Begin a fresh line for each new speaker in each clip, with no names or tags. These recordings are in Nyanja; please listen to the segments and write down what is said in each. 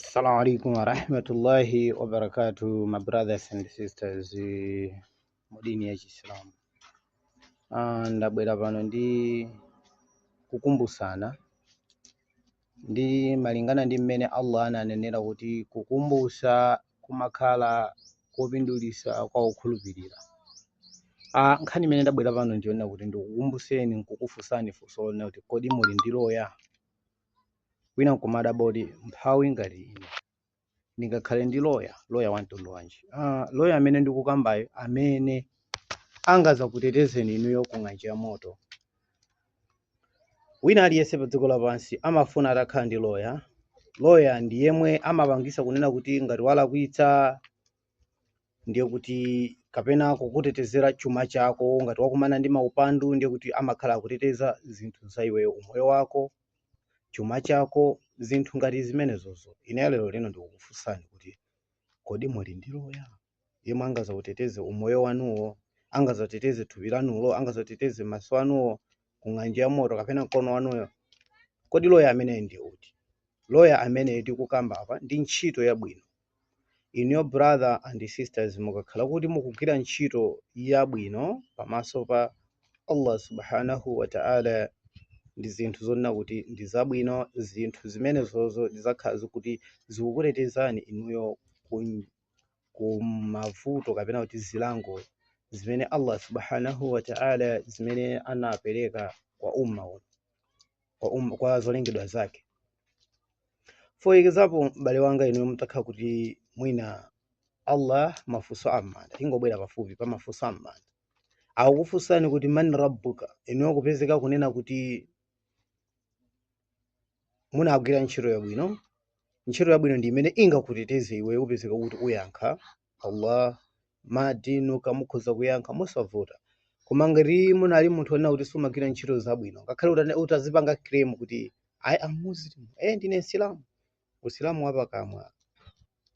Assalamu alaikum warahmatullahi wabarakatuh, my brothers and sisters eh, mu dini ya Chisilamu. Ah, ndabwera pano ndi kukumbutsana ndi malingana ndi mmene Allah ananenera kuti kukumbutsa kumakhala kopindulitsa kwa okhulupirira. Ah, nkhani imene ndabwera pano ndi yonena kuti ndikukumbutseni nkukufunsani funso lonena kuti kodi muli ndi loya? wina nkumadabwa kuti mphawi ngati ine ndingakhale ndi loya loya wa mtundu wanji ah, loya amene ndikukambayo amene angazakutetezeni inuyo ku ng'anjo ya moto wina aliyense pa dziko lapansi amafuna atakhala ndi loya loya ndi yemwe amapangisa kunena kuti ngati walakwitsa ndiye kuti kapena kukutetezera chuma chako. Ngati wakumana ndi maupandu, ndiye kuti amakhala akuteteza zinthu za iweyo, umoyo wako, chuma chako, zinthu ngati zimenezozo. Ineyo lero lino ndikukufunsani kuti kodi muli ndi loya yemwe angazauteteze umoyo wanuwo, angazateteze thupi lanulo, angazateteze maso anuwo ku ng'anjo ya moto kapena mkono wanuwo? Kodi loya ameneyo ndi uti? Loya amene tikukamba apa ndi ntchito yabwino Inuyo brother and sisters mukakhala kuti mukugwira ntchito yabwino pamaso pa Allah subhanahu wa ta'ala ndi zinthu zonena kuti ndi zabwino, zinthu zimenezozo zizakhala zikuti zikukutetezani inuyo ku ku mavuto kapena kuti zilango zimene Allah subhanahu wa ta'ala zimene anapereka kwa umma uno. kwa zolengedwa zake for example m'bale wanga inuyo mutakhala kuti mwina allah mafunso am'manda tingobwera pafupi pa mafunso am'manda akukufunsani kuti man rabbuka inuyo kupezeka kunena kuti munagwira ntchito yabwino ntchito yabwino ndi imene ingakuteteze iwe upezeka kuti uyankha Allah ma dinuka mukhoza kuyankha mosavuta koma ngati munali munthu onena kuti sumagwira ntchito zabwino ngakhale utane- utazipanga claim kuti i am muslim eh ndine msilamu usilamu wapakamwa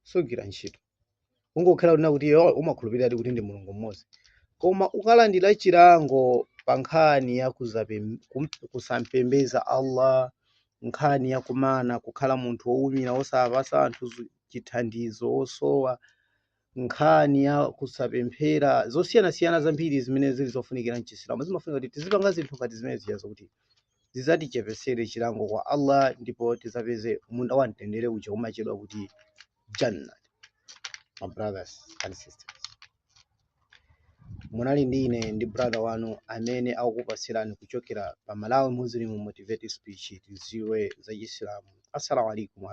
sugwira ntchito ungokhala kunena kuti iwe umakhulupiriradi kuti ndi mulungu mmodzi koma ukalandira chilango pa nkhani ya kuzape- kum- kusampembeza allah nkhani ya kumana kukhala munthu wowumira osapasa anthu zu- chithandizo osowa nkhani ya kusapemphera zosiyanasiyana zambiri zimene zili zofunikira mchisilamu zimafunika kuti tizipanga zinthu ngati zimene zija zokuti zizatichepesere chilango kwa allah ndipo tizapeze munda wa mtendere uja umatchedwa kuti jannah my brothers and sisters munali ndi ine ndi brother wanu amene akukupatsirani kuchokera pa malawi muslim motivated speech tidziwe za chisilamu assalamu alaikum